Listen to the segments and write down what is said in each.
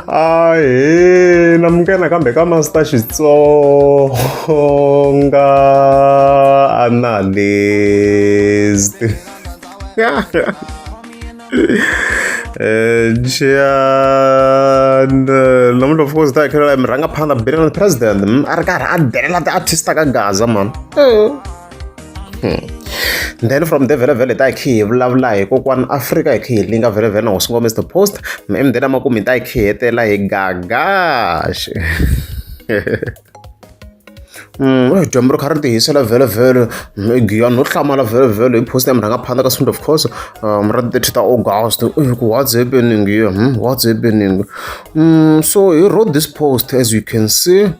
ahe na munghana kambe ka masita xitsonga analyst Jan namuntlha of course ta hi khelela hi mi rhanga phanda billion president a ri karhi a delela ti-artist ka gaza mani then from the vele vele ta hi khi hi vulavula hi kokwana afrika hi khi hi linga vele vele na hosi ngome the post and then amakumu hi ta hi khi hetela hi gagash Mm, dyambu ri kha ri tihisela vhelovhelo giyani no hlamala vhelovhelo hi post ya murhanga phanda ka swind of course um, ra thirty ta august ku what's happening here hmm? what's happening mm, so he wrote this post as you can see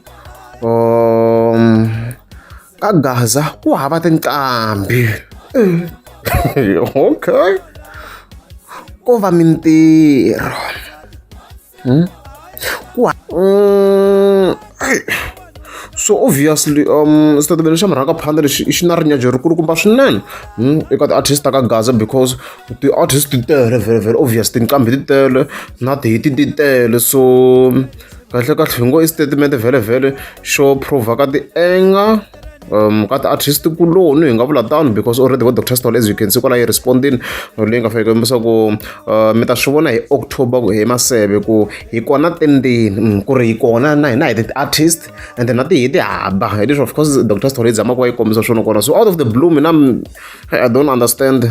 um, Ka Gaza ku hava tinqambi. okay. Ko va mintirho. Hmm? Ku mm, so obviously um xitatimende xa murhaka phanda lexi xi na rinyajo ri kulukumba swinene hmm, eka ti-artist ta ka gaza because ti-artist ti tele very very obvious tinqambi ti tele na tihiti ti tele so kahle kahle hi ngo i statement vhele vhele xo prova ka ti-anger um ka ti-artist kuloni hi nga vula tano because already vo doctor stol as you can see kwala yi respondini leyi nga faneke kombisa ku uh, mi ta swi vona hi october hi maseve ku hi kona tendeni mm, ku ri hi kona na hina hi ti-artist and na tihi ti haba hi leswi of course doctor stol yi zama ku va yi kombisa swona kona so out of the blue mina i don't understand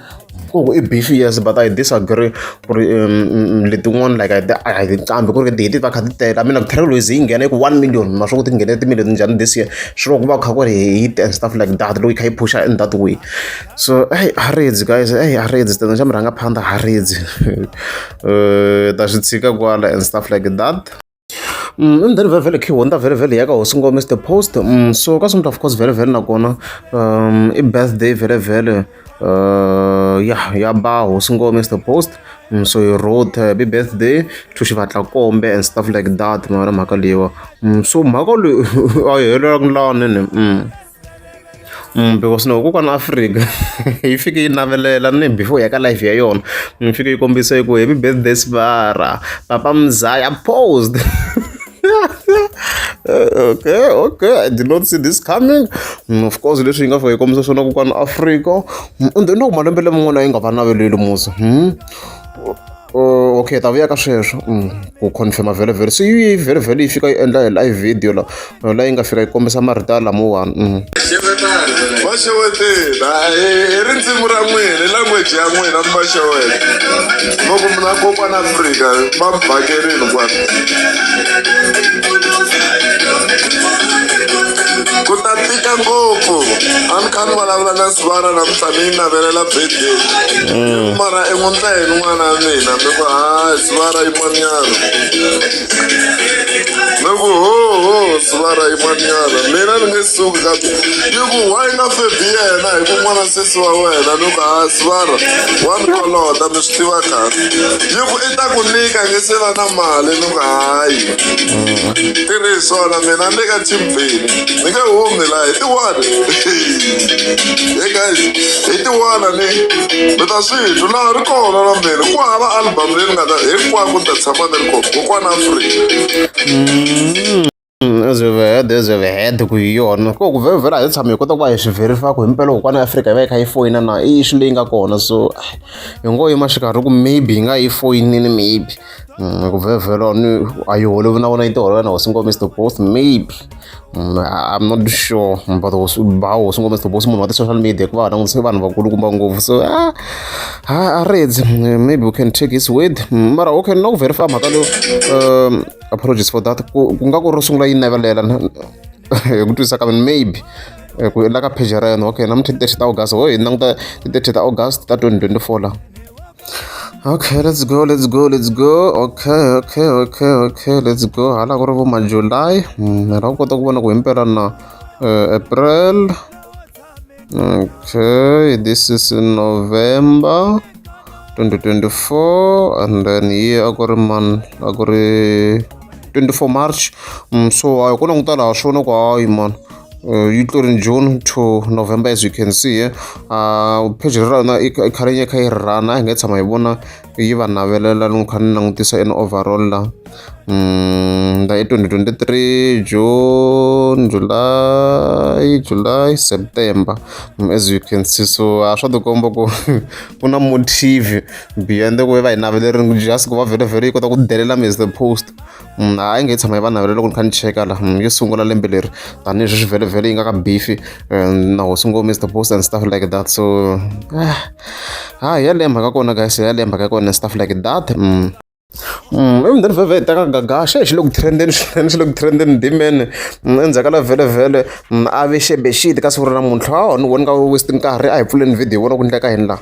ku ku i beef yes but i disagree ku ri um, mm, mm, letin'wana like a hi qambi ku ri ti va kha ti tele i mean like trail ways yi nghena ku one million ma swi ku ti nghene timillion njhani this year swi ku va kha ku ri hi and stuff like that loyi kha yi pusha in that way so hey haredzi guys hey haredzi tena xa mi rhanga phanda haredzi um eh, ta swi tshika kwala and stuff like that Mm, and then vhele vhele key honda vhele vhele ya ka hosi ngome the post mm, so ka swi of course vhele vhele nakona um i birthday vhele vhele uh, ya ya ba hosi ngome the post mm, so you wrote uh, happy birthday to xivatla kombe and stuff like that mara mhaka leyiwa mm, so mhaka leyi a yi helelaka lani ni mm. because no kokwana Afrika yi fike yi navelela ni before ya ka life ya yona yi fike yi kombisa yi ku happy birthday Sibara papa Mzaya posed okay okay i did not see this coming mm, of course leswi yi nga fika yi kombisa swona kokwana Afrika mm, and then loko malembe laman'wana yi nga va naveleli musa hmm? Oh, okay ta vuya ka sweswo mm, ku confirma vhele vhele se yi vhele vhele yi fika yi endla hi live video la la yi nga fika yi kombisa marito lamawani mm. va xewetela hi rindzimi ra n'wina hi language ya n'wina mi va xeweta loko mina kokwana afrika va mi vhakerini kwani ku ta tika ngopfu a ni kha ni vulavula na sivana namuntlha ni yi navelela mara i n'wanuna hi n'wana wa mina mi ku hayi sivara yin'wanyana mi ku hoho sivara yin'wanyana mina ni nge suki ka ni ku wa yi nga febi yena hi ku n'wana sesi wa wena ni ku hayi sivara wa ni kolota mi swi tiva kahle yi ku i ta ku nyika nge se va na mali ni ku hayi tirhi hi swona mina ni le ka team bini. ni nge humi la hi tiwani hey guys hi tiwana ni mi ta swi twa laha ri kona na mina ku hava album leyi ni nga ta hinkwako ni ta tshama ni ri kona kokwana afrika ezivehede ezivehede ku hi yona ko ku vhevhela hi tshama hi kota ku va hi swi verifaka himpela kokwana afrika yi va yi kha yi foyina na i xi leyi nga kona so hi ngo yima xikarhi ku maybe hi nga yi foyinini maybe Mm, ku vhevhela ni a yi holovi na vona yi ti holovela na hosi ngome to both maybe mm, i'm not sure but hosi ba hosi ngome to both munhu wa ti-social media ku va va langutise vanhu vakulukumba ngopfu so a a redzi mm, maybe we can take his word mara okay na ku verify mhaka leyo um apologies for that ku nga ku ro sungula yi navelela hi ku twisisa ka mina maybe eh, ku la ka page ra yena okay namuntlha ti-thirty ta august ho hi languta ti-thirty ta august ta twenty twenty four laha okay let's go let's go let's go okay okay okay okay let's go hala ku ri vo ma july mm, ra ku kota ku vona ku himpela na eh, april okay this is november 2024 and then here a ku ri man a ku ri 24 march mm, so a hi ku languta laha swona ku hayi mani Uh, yi tlo ri june to november as you can see here uh, page ra rona i kha ri kha yi rhana a hi nge tshama hi vona yi va navelela loko kha ni langutisa in overall la um la i 2023 june july july september mm, as you can see so a swa tikomba ku ku na motive beyond ku va hi naveleriku just ku va vhele vhele yi kota ku delela mi as the post Mm, a yi nge tshama yi va navelela loko ni kha ni cheka la mm, yo sungula lembe leri tanihi swi vhelevhele yi nga ka bifi eh, na hosi ngo mr post and stuff like that so eh, ha ya leyi mhaka kona guys ya leyi mhaka kona stuff like that mm. emundeni vhevhe hi teka gagasha hi xi le ku trendeni swinene xi le ku trendeni dimene endzhaku ka la vhelevhele a ve xebexiti ka siku ra namuntlha a ni voni ka westi nkarhi a hi pfuleni video vona ku endleka yini laha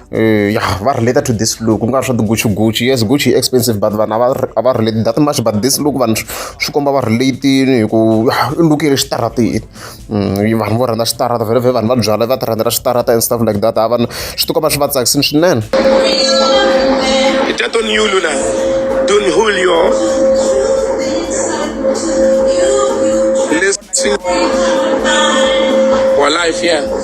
Eh, ya va relate to this look ku nga swa tigucci gucci yes gucci yi expensive but vanhu a va relate that much but this look vanhu swi komba va relatini hi ku i look ya le xitarateni mm, vanhu vo rhandza xitarata vhele vhe vanhu va byala va ti rhandzela xitarata and stuff like that a vanhu swi tikomba swi va tsakisini swinene Don Julio. Listen. For life, yeah.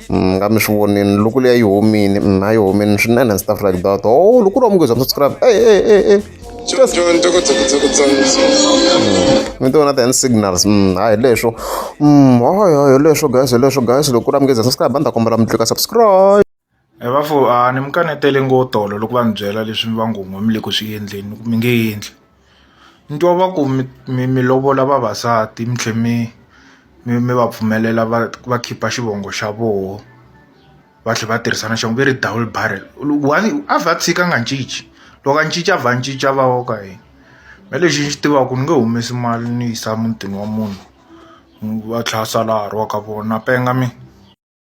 mm, nga mi swi vonini loko leya yi homini mm, a yi homini swinene and stuff like that o oh, loko u ri wa munghezi wa subscribe e e e e mi ti vona ti-hand signals mm, hayi leswo hayi hayi leswo guys leswo guys loko u ri wa munghezi wa subscribe a ni ta kombela mi tlika subscribe e va fo a ni mi kanetele ngo tolo loko va ni byela leswi mi va ngo n'we mi le ku swi endleni mi nge endli ni twa va ku mi mi mi lovola vavasati mi tlhe mi mi mi va pfumelela va va khipa xivongo xa voho va tlhe va tirhisa na xivongo va ri double barrel one a vha tshika a nga cinci loko a cinca a vha a cinca a va wa ka yena me lexi ni xi tivaku ni nge humesi mali ni yisa mutini wa munhu va tlhe va sala a ha ri wa ka vona na penga mina.